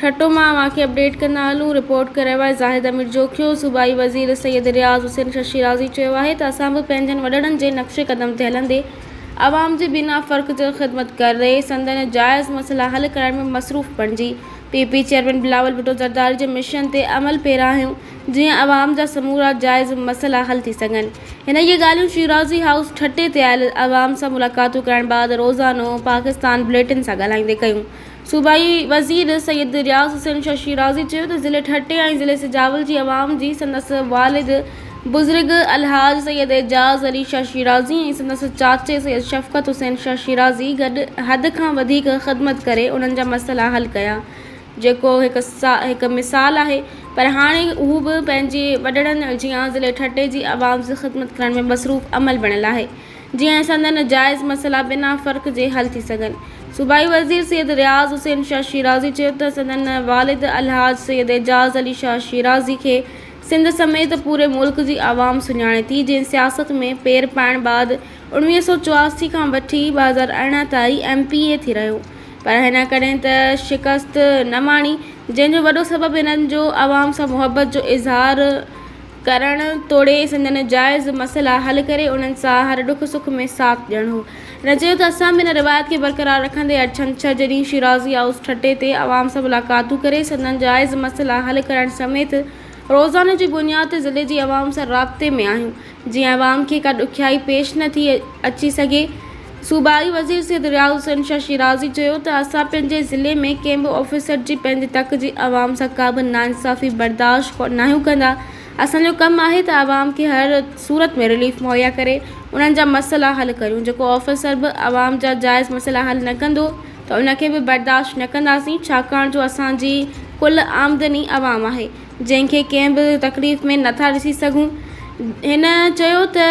ٺٽو مان اوهان کي اپڊيٽ ڪندا هلون، رپورٽ ڪري وائي زاهد امير جوکيو، صوبائي وزير سيد رياض حسين شش شيرازي چيو آهي ته اسان به پنهنجن وڏڙن جي نقش قدم تي هلندي عوام جي بنا فرق جي خدمت ڪري سندن جائز مسئلا حل ڪرائڻ ۾ مصروف بڻجي P P chairman Bilawal Bhutto Zardari جي مشن تي عمل پيرا آهيون جيئن عوام جا سمورا جائز مسئلا حل ٿي سگهن هن اهي ڳالهيون شيرازي هائوس ٺٽي تي آيل عوام سان ملاقاتون ڪرائڻ بعد روزانو پاڪستان بليٽن سان ڳالهائيندي ڪيون. صوبائي وزير سيد رياض حسين ششي رازي چيو ته ضلعي ٺٽي ۽ ضلعي سجاول جي عوام جي سندس والد بزرگ الحاج سيد اعجاز علي ششي رازي ۽ سندس چاچي سيد شفقت حسين ششي رازي گڏ حد کان وڌيڪ خدمت ڪري انهن جا مسئلا حل ڪيا جيڪو هڪ مثال آهي پر هاڻي هو به پنهنجي وڏڙن جيان ضلعي ٺٽي جي عوام جي خدمت ڪرڻ ۾ مصروف عمل بڻيل آهي جيئن سندن جائز مسئلا بنا فرق جي حل ٿي سگهن. صوبائي وزير سيد رياض حسين شاهه شيرازي چيو ته سندن والد الحاج سيد اعجاز علي شاهه شيرازي کي سنڌ سميت پوري ملڪ جي عوام سڃاڻي ٿي جنهن سياست ۾ پير پائڻ بعد اوڻويهه سؤ چواسي کان وٺي ٻه هزار ارڙهن تائين ايم پي اي ٿي رهيو پر هن ڪڏهن ته شڪست نه ماڻي جنهن جو وڏو سبب هنن جو عوام سان محبت جو اظهار ڪرڻ توڙي سندن جائز مسئلا حل ڪري انهن سان هر ڏک سک ۾ ساٿ ڏيڻ هو. هن چيو ته اسان به ان روايت کي برقرار رکندي هر ڇنڇر جي ڏينهن شيرازي هائوس ٺٽي تي عوام سان ملاقاتون ڪري سندن جائز مسئلا حل ڪرڻ سميت روزاني جي بنياد تي ضلعي جي عوام سان رابطي ۾ آهيون جيئن عوام کي ڪا ڏکيائي پيش نه ٿي اچي سگهي. صوبائي وزير سيد رياض حسين شاهه شيرازي چيو ته اسان پنهنجي ضلعي ۾ ڪنهن به آفيسر جي پنهنجي تڪ جي عوام سان ڪا به ناانصافي برداشت ناهيون ڪندا اسان جو ڪم آهي ته عوام کي هر صورت ۾ رليف مهيا ڪري انهن جا مسئلا حل ڪريون جيڪو آفيسر به عوام جا جائز مسئلا حل نه ڪندو ته ان کي به برداشت نه ڪنداسين ڇاڪاڻ جو اسان جي ڪل آمدني عوام آهي جنهن کي ڪنهن به تڪليف ۾ نٿا ڏسي سگهون هن چيو ته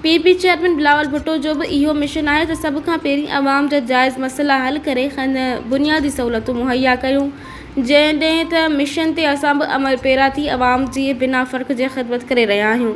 P P chairman Bilawal Bhutto جو به اهو مشن آهي ته سڀ کان پهرين عوام جا جائز مسئلا حل ڪري کين بنيادي سهولتون مهيا ڪيون جيڏهن ته مشن تي اسان به عمل پيرا ٿي عوام جي بنا فرق جي خدمت ڪري رهيا آهيون.